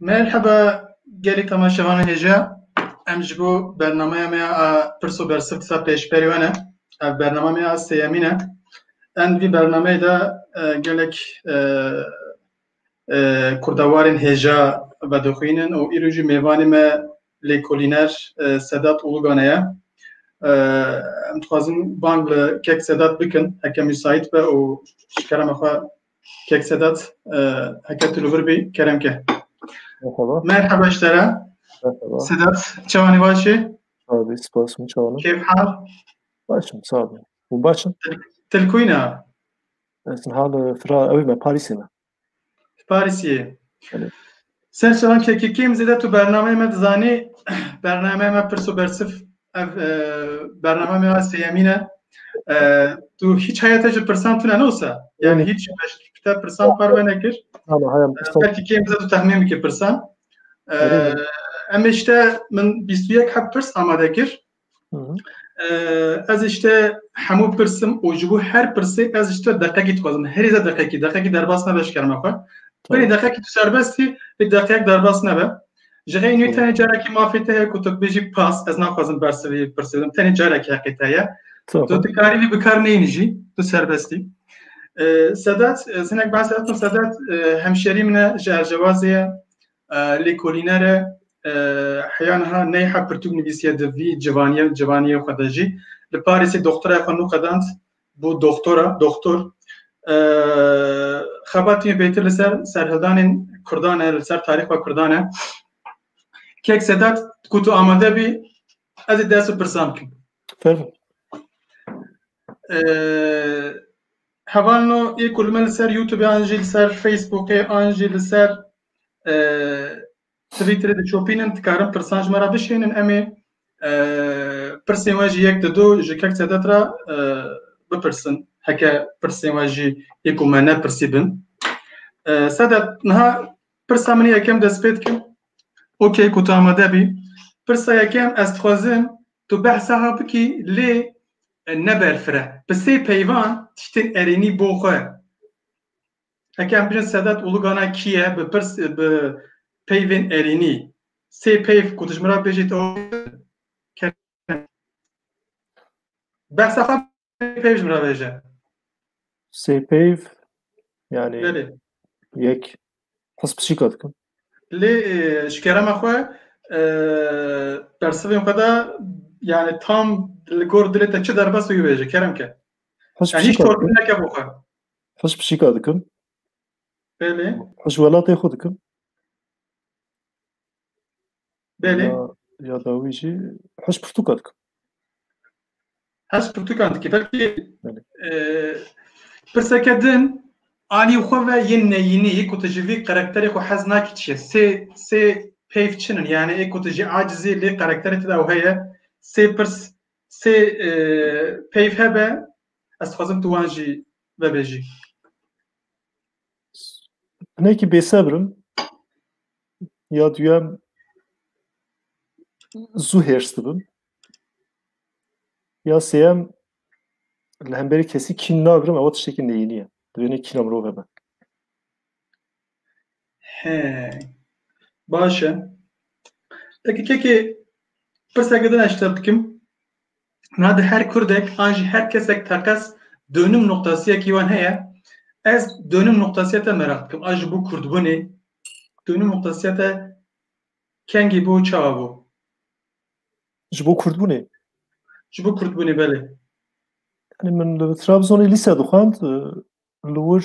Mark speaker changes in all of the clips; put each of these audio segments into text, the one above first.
Speaker 1: Merhaba gelê temaşevanê hêja. Em ji bo bernameya me ya pirs û bersiv disa pêşberî we ne. Ev bername me ya sêyemîn e. Em vî bernameyê de e, gelek e, e, kurdewarên hêja vedixwînin û îro jî mêvanê me Lêkolîner Sedat Ulugane ye. Em dixwazin bang li Kek Sedat bikin heke müsait be û ji kerema xwe Kek Sedat heke tu li vir bî kerem ke. Merhaba ji te re. Sedat çawanî baş e? Abi spas min çawanî. Kêf hal? Baş im sağ ol. Hûn baş in? Til kuyna? Ez hal fira ew me Parîsê me. Parisiyê. Ser şevan kekekîm zêde tu bernameyê me dizanî bernameyê me pirs û bersif ev e, bername me sêyemîn e e, tu hiç heya te ji pirsan tune ne wisa yani hiç te pirsan parve nekir belkî kêm zêde tu tehmîn bikî pirsan e, em işte min 21 heb pirs amade kir Ez ji te hemû pirsim û ji bo her pirsê ez ji te deqekî dixwazim. Herî zêde deqekî, deqekî derbas nebe ji kerema xwe. Binê deqekî tu serbestî, lê deqeyek derbas nebe. Ji xeyê nû tenê carekî mafê te heye ku tu bibêjî pas, ez naxwazim bersi vê pirsê bidim. Tenê carekî heqê te heye. Tu dikarî vê bikar neyinî jî, tu serbestî. Sedat, zinek ben Sedat, Sedat hemşerî min e ji Ercewazê ye. Lêkolîner e, heya niha neyha pirtûk nivîsiye di vî civaniyê civaniyê xwe de jî. Li Parîsê doxtirayê xwe nûqedand bû doxtora, doxtor. Xebatî me pêtir li ser serhildanên Kurdan e, li ser tarîxa Kurdan e. Kek Sedat, ku tu amade bî, ez ê dest û pirsan bikim. Tabii. Heval no yê ku li me li ser Youtubê an jî li ser Facebookê an jî li ser Twitterê diçopînin dikarin pirsan ji me re bişênin em ê pirsên we jî yek di du ji kek sedet re bipirsin heke pirsên we jî yê ku me nepirsî bin sedet niha pirsa min yekem dest pê dikim ok ku tu amade bî pirsa yekem ez dixwazim tu behsa bikî lê Neberfire. Bi sê peyvan tiştên erênî bo xwe. Heke em bijin Sedat Uluganay kî ye, bi pirs bi peyvên erênî. Sê peyv ku dijmira bêjî to behsa xwe peyv ji min re vêje. Sê peyv yanî yek Kes pişîka dikim. Lê ji kerema xwe bersivên xwe de yani tam li gor dilê te çi derbes wî bêje kerem ke. Hiç torpil neke bo xwe. Hiç pişîka dikim. Belê. Hiç welatê xwe dikim. Belê. Ya, ya dawî jî hez pirtûka dikim. Hez pirtûkan dike. Belkî Belê. e, pirseke din anî xwe ve yên neyînî ku tu ji vî karakterê xwe hez nakî çi ye? Sê sê peyv çin in yani ê ku tu jî acizî lê karakterê te de ew heye. Sê pirs sê e, peyv hebe ez dixwazim tu wan jî vebêjî. Nekî bêsebrim ya duyem zû hêrs dibim ya sêyem li hemberî kesî kîn nagirim ewa tiştekî neyînî ye divêne kîna mirov hebe He baş e Peki kekê pirseke din eşter dikim Na di her kurdek an jî her kesek teqez donim noqtasiyekî wan heye. Ez donim noqtasiya te meraq dikim. A ji bo kurdbûnê donim noqtasiya te kengî bû û çawa bû? Ji bo kurdbûnê? Ji bo kurdbûnê belê. Yani min li Trabzonê lise dixwend, li wir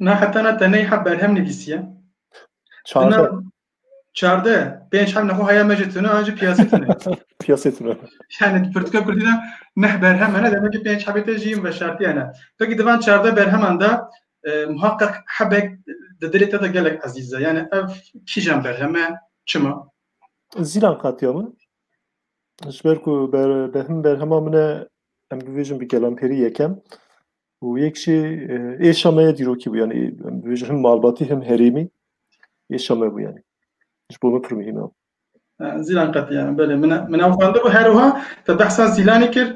Speaker 1: Na heta na tenê hep berhem nivîsiye. Çardeh. Çardeh. Pênc hem nexwe haya me ji tune an ji piyasê tune. piyasê tune. Yani di pirtûka kurdî de neh berhem hene demek ki pênc hebê tê jî yin veşartiye ne. Peki divan çardeh berheman de muhaqqeq hebek di dilê te de gelek ezîz e. Yani ev kîjan berheme çima? Zîlan qatiya min. Ji ber ku berhem berhema min e em bivêjin bi gelanperî yekem. û yek jî êşa me ya dîrokî bû yanî em dibêjin him malbatî him herêmî êşa me bû yanî ji bo min pir muhîm e. Zîlan qetî yani belê min min ew xwendibû her wiha te behsa Zîlanê kir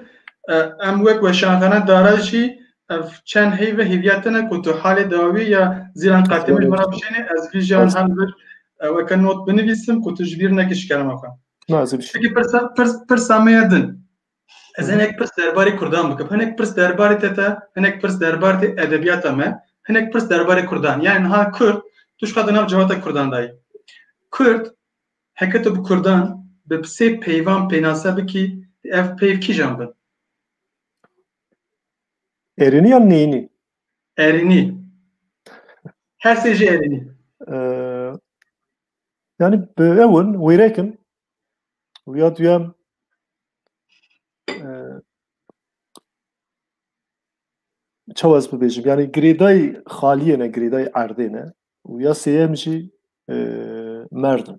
Speaker 1: em wek weşanxana dara jî ev çend heyve hêviya te ne ku tu halê dawî ya Zîlan qetî min wera bişênê ez vîjan her bir weke not binivîsim ku tu ji bîr nekî ji kerema xwe. Pirsa me ya din Ez hinek pirs derbarê Kurdan bikim. Hinek pirs derbarê te te, hinek pirs derbarê edebiyata me, hinek pirs derbarê Kurdan. Yani niha Kurd, tu şka di nav civata Kurdan dayî. Kurd, heke tu bi Kurdan bi sê peyvan pênase bikî, ev peyv kîjan bin? Erînî yan neyînî? Erînî. Her sê jî erînî. Yani bi ewin wêrekin Wîya duyem çawa ez bibêjim yanî girêdayî xaliyê ne girêdayî erdê ne û ya sêyem jî merdim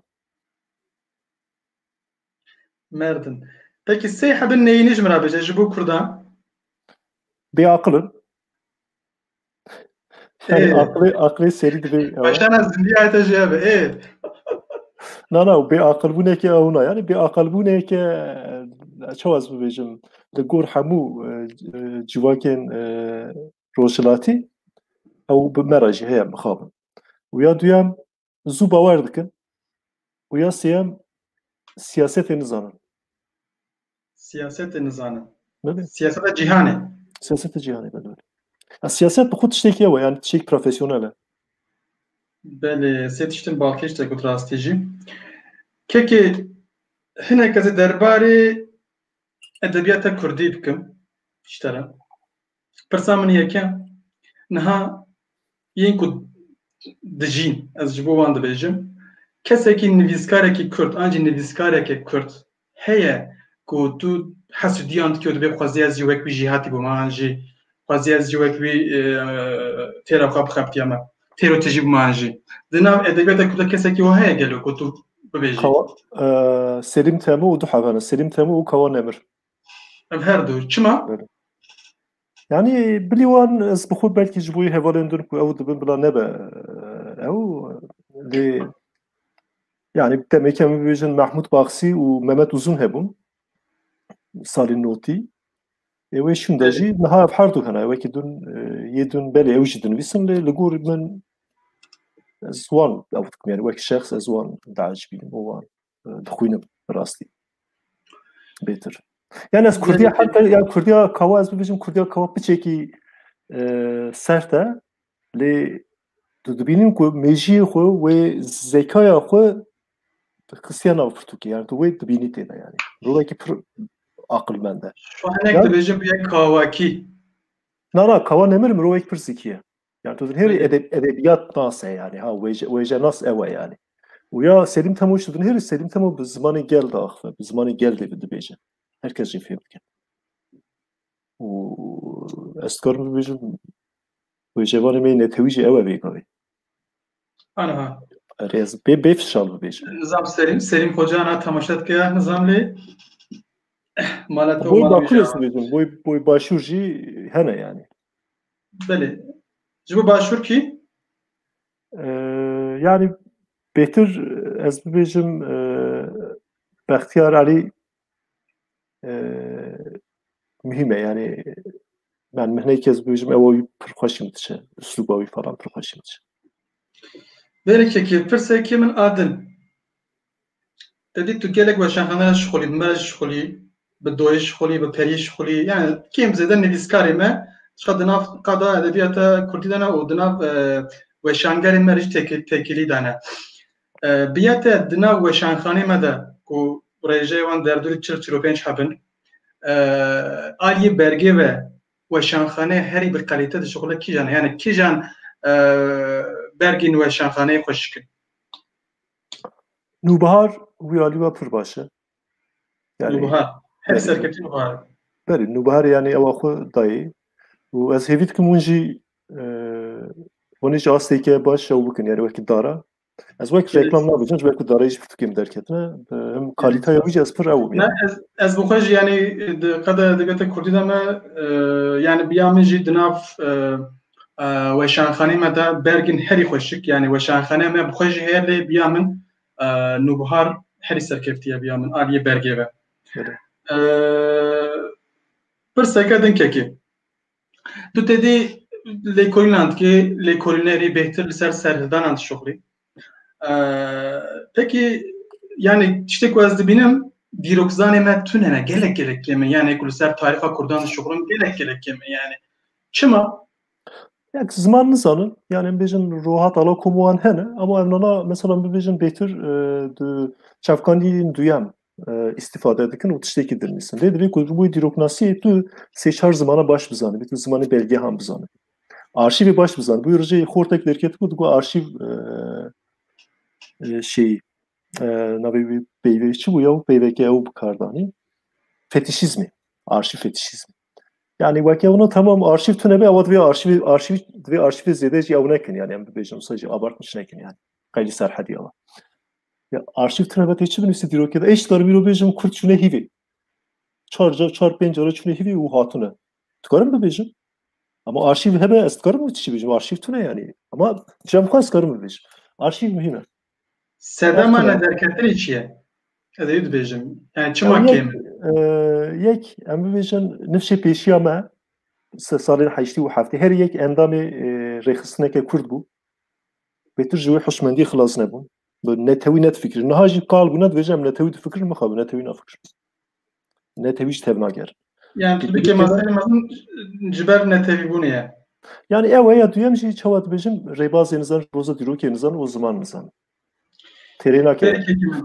Speaker 1: merdim peki sê hebin neyînî ji min re bêje ji bo kurdan bêaqilin Aklê aklê serî divê. Başana zindiya te jê be. Ê. Na na bê aqilbûneke ew na yanî bê aqilbûneke çaw ez bibêjim li gor hemû civakên rojhilatî ew bi me re jî heye mixabin. Û ya duyem zû bawer dikin û ya sêyem siyasetê nizanin. Siyasetê nizanin. Siyaseta cîhanê. Siyaseta cîhanê belê. Ya siyaset bi xwe tiştekî ye yani tiştekî profesyonel e. Belê sê tiştin balkêş te got rastî jî. Kekê hineke zê derbarê edebiyata Kurdî bikim. Ştera. Pirsa min yeke niha yên ku dijîn ez ji bo wan dibêjim kesekî nivîskarekî kurd an jî nivîskareke kurd heye ku tu hesûdiyan dike û dibê xwezî ez jî wek wî jî hatî bû me an jî xwezî ez jî wek wî e, têra xwe bixebitiya me têro tijî bû me an jî di nav edebiyata kurda kesekî wa heye gelo ku tu bibêjî e, Selîm Temû û du hevana Selîm Temû û Kawan Emir Em her du çima? Yani bilî wan ez bi xwe belkî ji bo wî hevalên din ku ew dibin bila nebe ew lê yani demekî em bibêjin Mahmud Baxsî û Mehmet Uzun hebûn salî notî ê wê şûn de jî niha ev her du hene wekî dun yê dun belê ew jî dinivîsin lê li gor min ez wan ew dikim yani wekî şexs ez wan diacibînim û wan dixwînim bi rastî bêtir yani ez kurdiya heta ya kurdiya kawa ez bibêjim kurdiya kawa piçekî e, sert e lê tu dibînim ku mêjiyê xwe wê zekaya xwe qisiya nav pirtûkê yani tu wê dibînî têne yani rolekî pir aqilmend e. Şu hinek dibêjim yek kawakî. Na na kawa nemir mirovek pir zikî ye. Yani tu dinhêrî edeb, edebiyat nase yani ha wêje wêje nas ewe yani. Û ya Selîm Temo ji dinhêrî Selîm Temo bi zimanê gel de axive, bi zimanê gel dê dibêje. Her kes jê fêr dike. Û ez dikarim bibêjim wêjevanê me netewî jî ewe bêgavê. Ana. Erê ez bê bê fişal bibêjim. Nizam Selîm, Selîm Xoca na temaşa dike nizam lê. Mala to Boy mala bakur wêje. ez dibêjim, boy boy başûr jî hene yani. Belê. Ji bo başûr kî? Yani bêtir ez bibêjim Bextiyar Alî muhîm e yani ben mihneyekî ez bibêjim ew wî pir xweş min diçe uslûba wî falan pir xweş min diçe. Bêrekekê pirseke min a din. Tevî tu gelek weşanxane re şixulî, bi me re jî şixulî, bi doyê şixulî, bi periyê şixulî. Yani kêm zêde nivîskarê me çiqa di nav qada edebiyata Kurdî de ne û di nav e, weşangerê me re jî têkilî de ne. E, Biyete di nav weşanxanê me de ku rêjeyê wan derdorî çil çil û pênc hebin. E, Aliyê bergê ve weşanxane herî bi qelîte dişixule kîjan e? Yani kîjan e, bergên weşanxaneyê xweş dikin? Nûbihar wî alî we pir baş e. Yani, Nûbihar. Her serketî nûbihar. Berê, nûbihar yanî ewa xwe dayê. û ez hêvî dikim hûn jî hûnê jî astêke baş ew bikin yani wekî dara ez wek reklam nabicin wek darê jî pirtûkê min derketine him kalîteya wî jî ez pir ew ez bi xwe jî yanî qede edebiyata kurdî de me yanî biya min jî di nav Weşanxanê me de bergên herî xweşik yanî weşanxanê me bi xwe jî heye lê biya min nûbihar herî serkeftiye biya min aliyê bergê ve. Pirseke dinkekê. Tu tedî lêkolînan dikê lêkolînerî bêhtir li ser serhildanan dişuxilî. Peki yani tiştê ku ez dibînim dîrokzanê me tune ne gelek gelek kême yani ku li ser tarixa Kurdan dişuxulin gelek gelek kême yani çima Yak ziman nizanin yani em bêjin roha tala komuan hene ama ev nana mesela bibêjin bêtir di çavkanîyên duyem istifade dikin û tiştekî dinivîsin. Lê divê ku ji bo dîroknasiyê tu sê çar zimana baş bizanibî, tu zimanê belgehan bizanibî. Arşîvê baş bizanibî. Bûyî rijeyê xortek derket ku digot arşîv şeyî navê wî peyvê çi bû ya û peyveke ew bi kar danî. Fetişîzmê. Arşîv fetişîzmê. Yani weke ona tamam arşiv tune be ewa divê arşiv arşiv divê arşiv zêde jî ew nekin yani em bibêjin wisa jî abartmiş nekin yani. Qeylî serhedî ewa. Ya arşiv tira ve tê çi binivîse dîrokê de ê ji dar vîro bêjim kurd çûne hîvê. Çar car çar pênc cara çûne hîvê û hatine. Dikarim bibêjim. Ama arşiv hebe ez dikarim tişî bêjim. Arşiv tune yanî. Ama cem xwe ez dikarim bibêjim. Arşiv muhîm e. Sedema Arşiv e. nederketinê çi ye? Ez ê dibêjim. Yani çima Em yek, kêm e? e, yek em bibêjin nifşê pêşiya me se- salên heştî û heftê her yek endamê e, rêxistineke kurd bû. Pêtir ji wê hişmendiyê xilas nebûn. Bi netewî ne difikirin. Niha jî kal bûna dibêje em netewî difikirin mixwe bi netewî nafikirin. Netewî ji tev nagerin. Yani tu dikê meselê mezin ji ber netewîbûnê ye. Yani ew e ya duyem jî çawa dibêjim rêbazê nizan ji roza dîrokê nizan û ziman nizan. Têrê nake.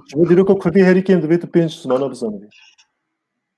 Speaker 1: Ji bo dîroka Kurdî herî kêm divê tu pênc zimana bizanibî.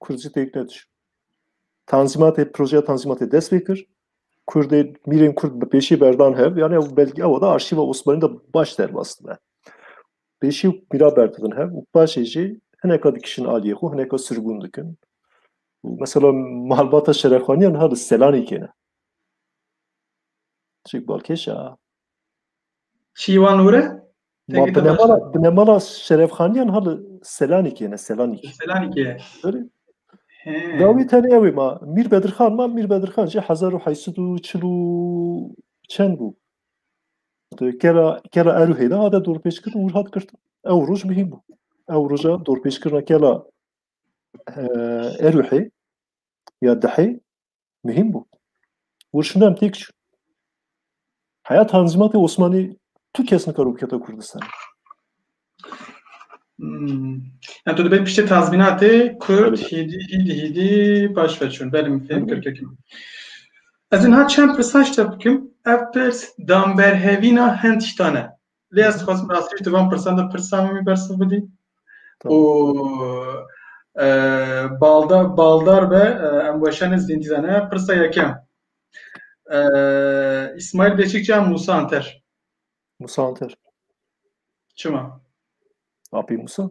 Speaker 1: Kurdî têk nedir. Tanzîmatê, projeya tanzîmatê dest pê kir. Kurdê, mîrên Kurd bi pêşî berdan hev, yani ew belge ew da arşîva Osmanî de baş derbas dibe. Pêşî û mîra berdibin hev û paşê jî hineka dikişin aliyê xwe, hineka sirgûn dikin. Û mesela malbata şerefxaniyan ha li Selanî kêne. Çik balkêş a. Şîvan Ure? Ma binemala, binemala Şerefxaniyan halı Selanikê ne Selanik. Selanikê. Öyle. Dawî tenê ew ê ma Mîr Bedirxan ma Mîr Bedirxan jî hezar û heysid û çil û çend bû. Kera kera Erûhê de hate dorpêçkirin û hat girtin. Ew roj mihîm bû. Ew roja dorpêçkirina kela Erûhê ya dehê Mühim bu. Û şunu em têk çû. Heya Tanzîmatê Osmanî tu kes nikaro bikete Kurdistanê. Hmm. Yani tu dibê piştê tazminatê Kurd hîdî hîdî hîdî baş veçûn. Belê min fêm kir kekim. Ez niha çend pirsaş te bikim. Ev pirs damberhevîna hin tiştane. Lê ez dixwazim bi rastî di van pirsan de pirsa min wî bersiv bidî û baldar baldar be em weşanê zîndîdan e pirsa yekem İsmail Beşikçi ya Musa Anter. Musa Anter. Çima? Api Musa.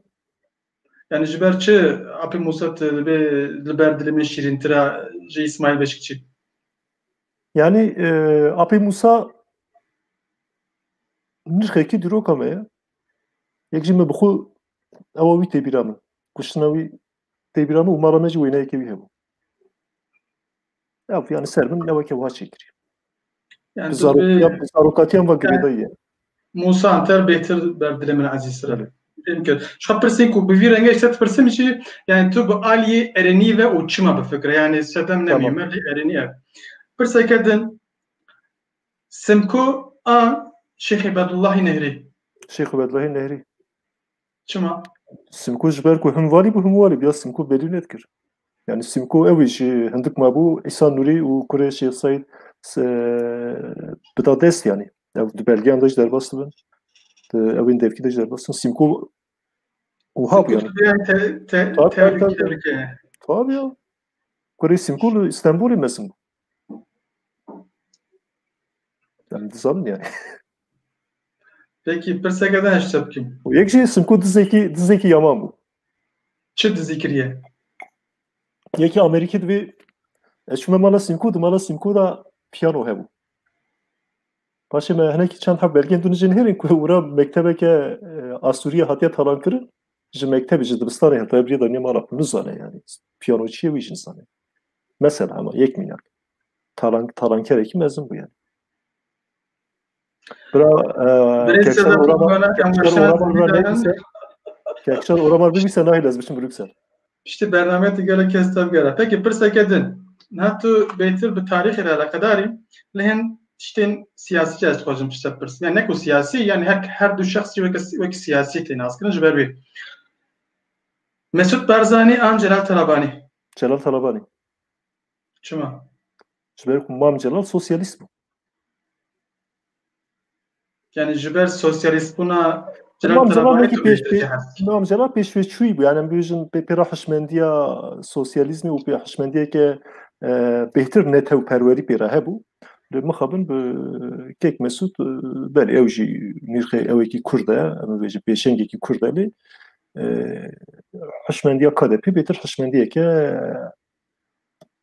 Speaker 1: Yanî ji ber çi Apê Mûsat divê li ber dilê min şîrîntir e ji Îsmaîl Beşikçî? Yanî Apê Mûsa nirxekî diroka me ye. Yek jî me bi xwe ewa wî têbîra min. Kuştina wî têbîra min û mala me jî wêneyekê wî hebû. Ya bu yani ser bin ne weke wiha çêkirî. Yani Zarokatiyan ve girêdayî. Musa Anter bêtir ber dilê min ezîztir. Fêm kir. Şa pirsên ku bi vî rengê ji te dipirsim jî yani tu bi aliyê erenî ve û çima bifikire yani sedem nemî me lê erenî ev. Pirseke din Simko a Şêxê Bedullahî Nehrî. Şêxê Bedullahî Nehrî. Çima? Simko ji ber ku him valî bû him walî bû ya Simko belî nedikir. Yani Simko ew jî hindik mabû İsa Nurî û kurê Şêx Saîd bida dest yanî. Ew di belgeyan de jî derbas dibin. Ew ên devkî de jî derbas dibin. Simko wiha bû yani. Tabii ya. Kurê Simko li Stenbolê mezin bû. Em dizanin yani. Peki pirseke de heşte bikim. O yek jî simku dizekî dizekî yaman bû. Çi dizî kiriye? Yekî Amerîkî divê ez çûme mala simku di mala simku da piyano hebû. Paşê me hinekî çend heb belgên dûnijê nihêrin ku ûra mektebeke e, Asûriye hatiye talankirin ji mektebê ji dibistanê heta birî da niye mala xwe nizane yani piyanoçiye wî jin zane. Mesela hema yek mînak. Talan, talankerekî mezin bû yani. Bira Kekşar Oramar Kekşar Oramar bibîse nahî lez biçim Brüksel. Piştî bername te gelek kes tev gera. Peki pirseke din. Niha tu bêtir bi tarîxê re eleqedarî li hin tiştên siyasî ez dixwazim pişte pirs. Yani ne ku siyasî yani her her du şexsî wek wek siyasî tê naskirin ji ber wê. Mesut Barzani an Celal Talabanî. Celal Talabanî. Çima? Ji ber ku Mam Celal sosyalîst bû. Yani ji ber sosyalîst bûna Mam Celal wekî Mam Celal pêşveçûyî bû yani em bêjin pê pêra hişmendiya sosyalîzmê û pê hişmendiyeke bêhtir netewperwerî pêra hebû. Li mixabin bi kek Mesûd belê ew jî nîrxê ewekî Kurd e em bêjin pêşengekî Kurd e lê hişmendiya KDP bêtir hişmendiyeke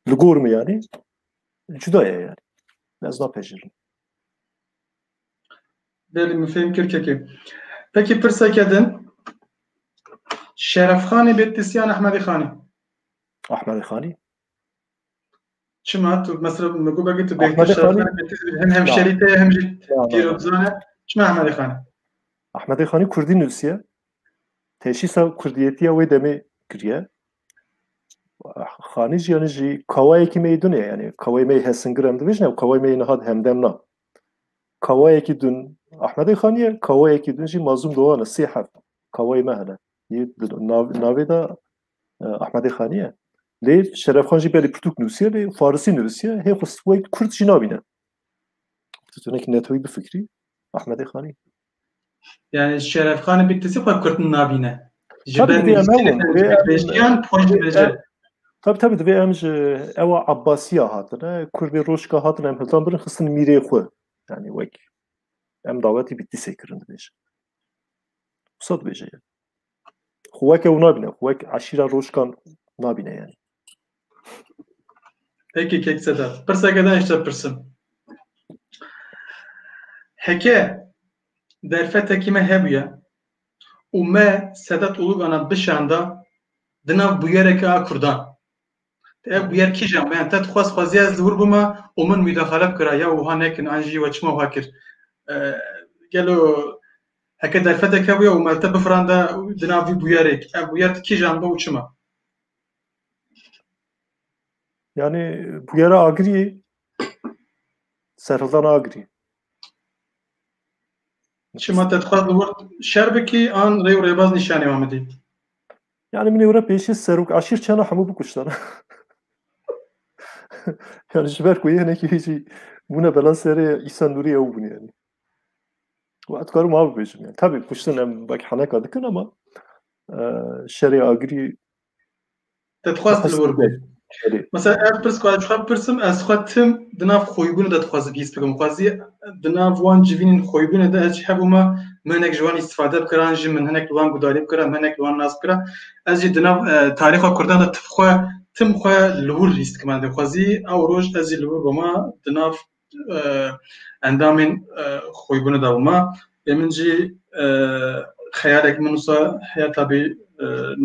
Speaker 1: li gor me yanî cuda ye yani. Ez napejîrim. Belê min fêm kir kekê. Pekî pirseke din Şerefxanê bê tisyan Ehmedî Xanî. Ahmedê Xanî. Çima tu mesela min got ki tu bêhtir şerxan hem hemşerî te hem jî dîrobzane çima Ahmedê Xanî? Ahmedê Xanî Kurdî nûsiye teşîsa Kurdiyetiya wê demê kiriye. Xanî jî yanî jî kawayekî me dune yani kawayê me hesingir em dibêjin ew kawayê me niha hemdem na. Kawayekî dun Ahmedê Xanîye kawayekî dun jî mazûm doane sê heft kawayê me hene. Navê de Ahmedê Xaniye. Lê Şerefxan jî belê pirtûk nûsiye lê farisî nivisiye hê xwe wey kurd jî nabîne. Tu tunekî netoyî bifikrî Ahmedê Xanî. Yani Şerefxanê bi tisi xwe kurd nabîne. Ji ber nivîsîyan xwe dibêje. Tabi tabi divê em ji ewa Abbasiya hatine kurdê roşka hatine em hildan birin xistin mîrê xwe yani wek em dawetî bi tisê kirin dibêje. Wisa dibêje Xwe weke ew nabîne, xwe wek eşîra rojkan nabîne yani. Peki kek seda. Pırsake da işte pırsın. Heke derfete kime hebuye û me Sedat Ulugana bişanda dinav buyereke a Kurdan. Ev bûyer kîjan be? Te dixwaz xweziya ez li wir bûma û min mîdaxale bikira ya wiha nekin an jî we çima wiha kir? Gelo heke derfetek hebûye û me li te bifiranda di nav vî bûyerê ev bûyer di kîjan be û çima? Yani bûyera agiriyê serhildana agiriyê. Çima te dixwaz li wir şer bikî an rê û rêbaz nîşanê wan bidî? Yani min ewre pêşî serok aşîr çena hemû bikuştan. yani ji ber ku yênekî hêjî bûne bela serê Îsa Nûrî ew bûn yani. Ve ez dikarim av bêjim yani. Tabi kuştin em bek heneka dikin ama şerê agirî Te dixwast li wir bê. Mesela ev pirs ku ez xwe pirsim ez xwe tim di nav xwîbûnê de dixwazim hîs bikim xwazî di nav wan civînên xwîbûnê de ez hebûma min hinek ji wan îstîfade bikira an jî min hinek li wan gudarî bikira min hinek li wan nas bikira ez jî di nav e, tarîxa kurdan de tif xwe tim xwe li wir hîs dikim xwazî ew roj ez jî li wir bûma di nav endamên xwîbûne da wima lê min jî xeyalek min wisa heya tabî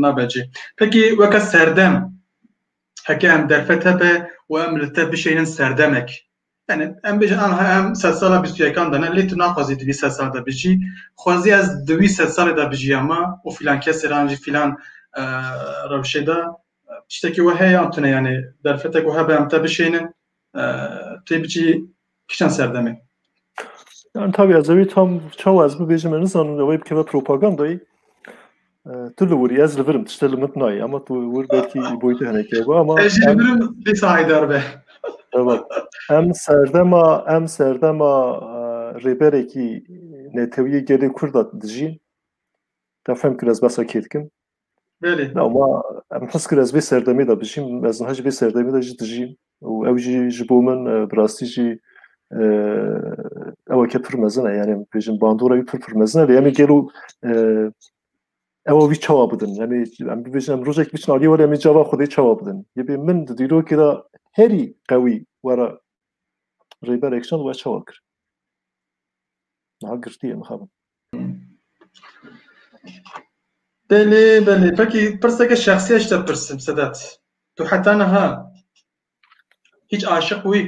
Speaker 1: nabecî. Pekî weke serdem heke em derfet hebe û em li te bişeynin serdemek. Yani em bêjin anha em sed sala bîst û yekan de ne lê tu naxwazî di vî sed sal de bijî. Xwezî ez di wî sed salê de bijîya ma û fîlan kesê re an jî fîlan rewşê de tiştekî we heye an tune yanî derfetek we hebe em te bişeynin têbiçî kişan serdemê. Yani tabii ez evî tam çawa ez bibêjim me nizanim ew ê bikeve propagandayî. Tu li wirî ez li virim tişte li min nayê ama tu wir belkî boyutê henekê hebe ama ez li virim lê sahîdar be. Evet. Em serdema em serdema rêberekî netewiyê gelê Kurd dijîn. Te fem kir ez besa kê dikim. Belê. Na ma em his kir ez vê serdemê de bijîm, ez niha jî vê serdemê de jî dijîm û ew jî ji bo min e, bi rastî jî e, eweke pir mezin e yani bêjin bandora wî pir pir mezin e lê em ê gelo e, ewa wî çawa bidin em ê em bibêjin em rojek biçin aliyê were em ê cava xwedê çawa bidin yê bê min di dîrokê de herî qewî were rêber ekşan we çawa kir niha girtiyê mixabin Belê belê pekî pirseke şexsî ya ji te pirsim Sedat, tu heta niha hîç aşiq bûyî?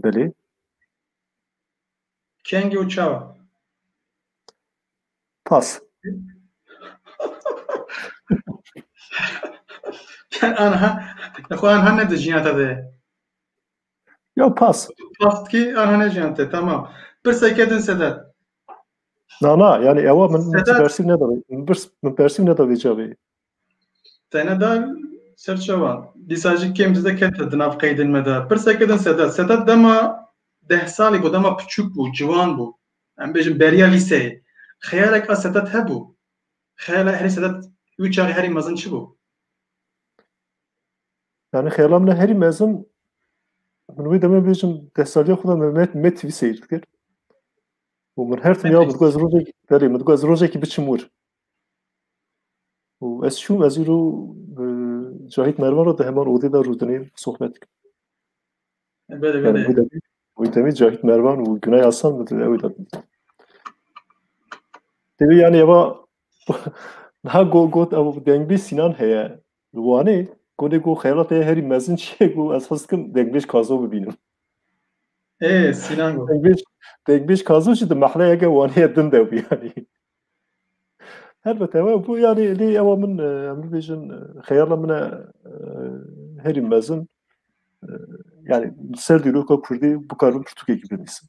Speaker 1: Belê. Kengî û çawa? Pas. Aniha xwe aniha ne di jiyana te de ye. Ya pas. Pas ki aha ne jiyan te tamam. Pirsa ke din sedet. Na na yani ewa min min persîv ne davê. Min birs min persîv ne davê cavê. Te ne dar serçewa. Dîsa jî kêm dizde kete di nav qeydên me de. Pirsa ke din sedet. Sedet dema deh salî bû dema piçûk bû, ciwan bû. Em bêjin beriya lîseyê. Xeyalek a sedet hebû. Xeyala herî sedet wî çaxê herî mezin çi bû? Yani xeyala min herî mezin min wê demê bêjim destaliya xwe me me TV seyir dikir. û min her tim ya min ez rojekî belê min ez rojekî biçim wir. û ez çûm ez îro Cahit Mervan re di heman odê de rûdinê sohbet dikim. Belê belê. Wî demê Cahit Mervan û Günay Asan min di ew de bîn. Tevî yani eva niha got got ev dengbê Sinan heye. Li Wanê gonê ku xeyalat heye herî mezin çi ye ku ez hez dikim Dengbêj Kazo bibînim. Ê Sînan got. Dengbêj Dengbêj Kazo jî di mehleyeke Wanê ye din de bû yanî. Helbet ewe bû yanî lê ewa min em bibêjin xeyala min e herî mezin yanî li ser dîroka Kurdî bikarim pirtûkekî binivîsim.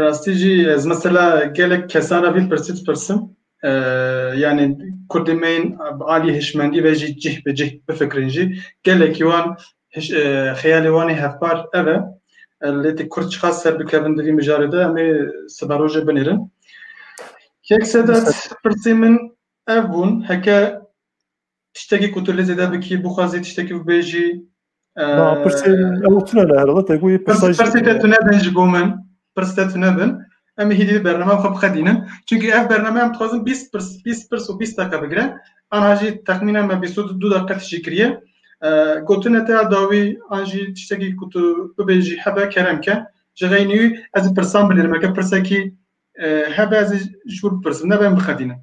Speaker 1: Rastî jî ez mesela gelek kesan re vî pirsî dipirsim yanî kurdê me yên bi alî hişmendî ve jî cih bi cih bifikirin jî gelekî wan xeyalê wan ê hevpar ev e lê tê kurd çiqas ser bikevin di vî mijarê de em ê siba rojê binêrin yek sedat pirsê min ev bûn heke Tiştekî ku tu lê zêde bikî bixwazî tiştekî bibêjî. Na pirsên ew tune ne herhalde te goyê pirsay jî. Pirsê te tune bin ji bo min. Pirs te tune bin. Em ê hêdî bernameya xwe bixedînin. Çunki ev bername em dixwazin bîst pirs, bîst pirs û bîst deqe bigire. Ana jî texmînen me bîst û du deqe tişî kiriye. Gotina te ya dawî an jî tiştekî ku tu bibêjî hebe kerem ke. Ji xeynî wî ez ê pirsan bilêrim. Eke pirsekî hebe ez ê ji bo bipirsim nebe em bixedînin.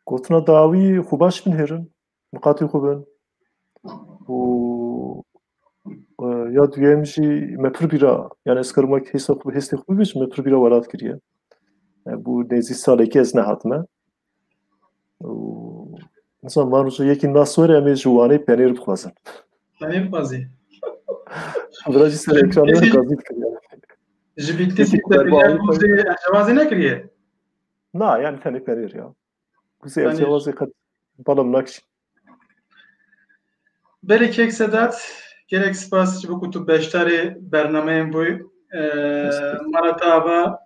Speaker 1: Gotina dawî xwe baş bin hêrin, miqatî xwe bin û e, ya duyem jî me pir bîra yani ez karim wek hêsa xwe hêstê xwe bibêjim me pir bîra welat kiriye. E, bû nêzî salekî ez nehatime. Û insan van roja yekî nas were em ê ji wanê penêr bixwazin. Penêr xwazî. Bira jî ser ekranê were gazît kiriye. Ji bîktîsî te bîra xwazê nekiriye. Na yani tenê perêr ya. Kuzê Tenê- evcewazê qet balam nakş. Berê kek Sedat, gelek spas ji bo ku tu beşdarê bernameyên bûyî. Eh, Mala te ava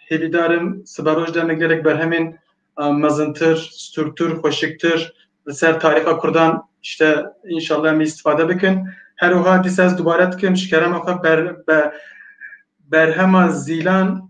Speaker 1: hêvîdar im siberoj demê gelek berhemên eh, mezintir, stûrtir, xweşiktir li ser tarîxa Kurdan işte înşallah em îstifade bikin. Her wiha dîsa ez dubare dikim ji kerema xwe ber, be- berhema zîlan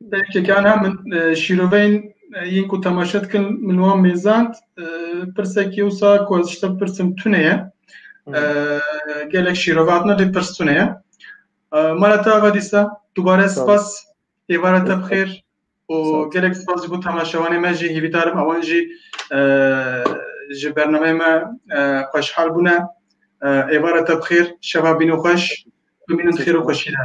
Speaker 1: Belki kan ha min şîroveyên yên ku temaşe dikin min wan mêzand pirsekî wisa ku ez ji te pirsim tune ye gelek şîrove hatine lê pirs tune ye mala te ava dîsa dubare spas êvara te bixêr û gelek spas ji bo temaşewanê me jî hîvîdarim ewan jî ji bernameyê me xweşhal bûne êvara te bixêr şeva bîno xweş bimînin xêr û xweşî de